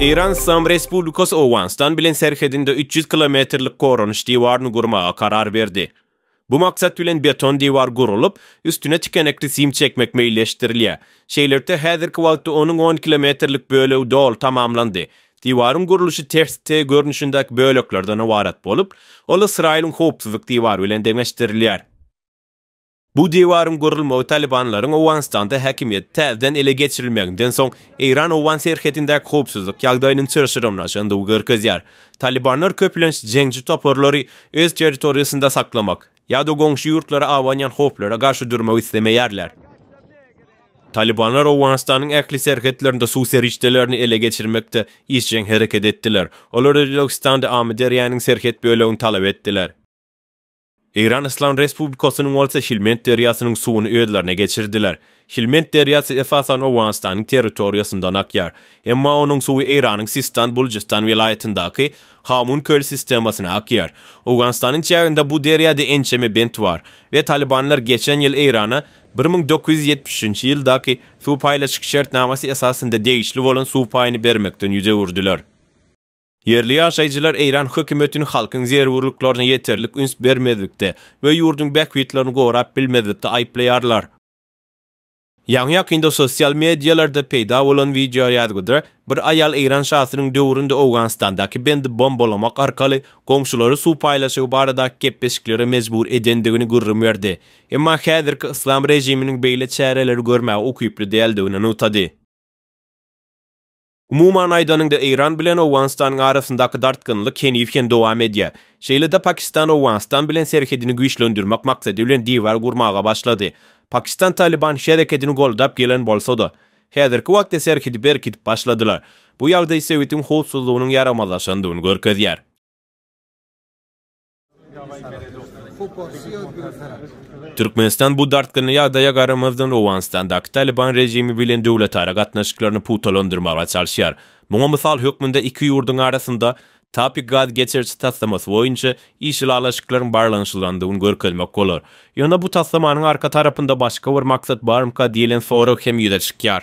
Eýran Yslam Respublikasy Owganystan bilen serhedinde üç ýüz kilometrlik goranyş diwaryny gurmaga karar berdi. Bu maksat bilen beton diwar gurulyp, üstüne tikenekli sim çekmek meýilleşdirilýär. Şeýlelikde, häzirki wagtda onuň on kilometrlik bölegi doly tamamlandy. Diwaryň gurluşy ters T görnüşindäki böleklerden ybarat bolup, ol Ysraýylyň howpsuzlyk diwary bilen deňeşdirilýär. Bu diwaryň gurulmagy talybanlaryň Owganystanda häkimiýeti täzeden ele geçirilmeginden soň, eýran-owgan serhedindäki howpsuzlyk ýagdaýynyň çylşyrymlaşandygy görkezýär. Talybanlar köplenç jeňçi toparlary öz territoriýasynda saklamak ýa-da goňşy ýurtlara abanýan howplara garşy durmak islemeýärler. Talybanlar Owganystanyň ähli serhetlerinde suw serişdelerini ele geçirmekde işjeň hereket etdiler. Olar Özbegistanda Amyderýanyň serhet bölegini talap etdiler. Eýran Yslam Respublikasynyň bolsa Hilmend derýasynyň suwuny özlerine geçirdiler. Hilmend derýasy esasan Owganystanyň territoriýasyndan akýar. Emma onuň suwy Eýranyň Sistan-Bulujystan welaýatyndaky Hamun köli sistemasyna akýar. Owganystanyň çäginde bu derýada ençeme bent bar we talybanlar geçen ýyl Eýrana bir müň dokuz ýüz ýetmiş üçünji ýyldaky suw paýlaşyk şertnamasy esasynda degişli bolan suw paýyny bermekden ýüz öwürdiler. Ýerli ýaşaýjylar Eýran hökümetini halkyň zerurlyklaryna ýeterlik üns bermezlikde we ýurduň bähbitlerini gorap bilmezlikde aýyplaýarlar. Ýaňy-ýakynda sosial medialarda peýda bolan wideoýazgyda bir aýal Eýran şasynyň döwründe Owganystandaky bendi bombalamak arkaly goňşulary suw paýlaşygy baradaky gepleşiklere mejbur edendigini gürrüň berdi, emma häzirki yslam režiminiň beýle çäreleri görmäge ukyply däldigini nygtady. Umuman aýdanyňda Eýran bilen Owganystanyň arasyndaky dartgynlyk heniz hem dowam edýär. Şeýle-de Pakistan Owganystan bilen serhedini güýçlendirmek maksady bilen diwar gurmaga başlady. Pakistan Talyban herekedini goldap gelen bolsa-da, häzirki wagtda serhedi berkidip başladylar. Bu ýagdaý sebitiň howpsuzlygynyň ýaramazlaşandygyny görkezýär. Türkmenistan bu dartgynly ýagdaýa garamazdan Owganystandaky Talyban režimi bilen döwletara gatnaşyklaryny pugtalandyrmaga çalyşýar. Muňa mysal hökmünde iki ýurduň arasynda Tapik gaz geçiriji taslamasy boýunça iş ylalaşyklaryň barlanyşylandygyny görkezmek bolar. Ýöne bu taslamanyň arka tarapynda başga bir maksat barmyka diýlen sorag hem ýüze çykýar.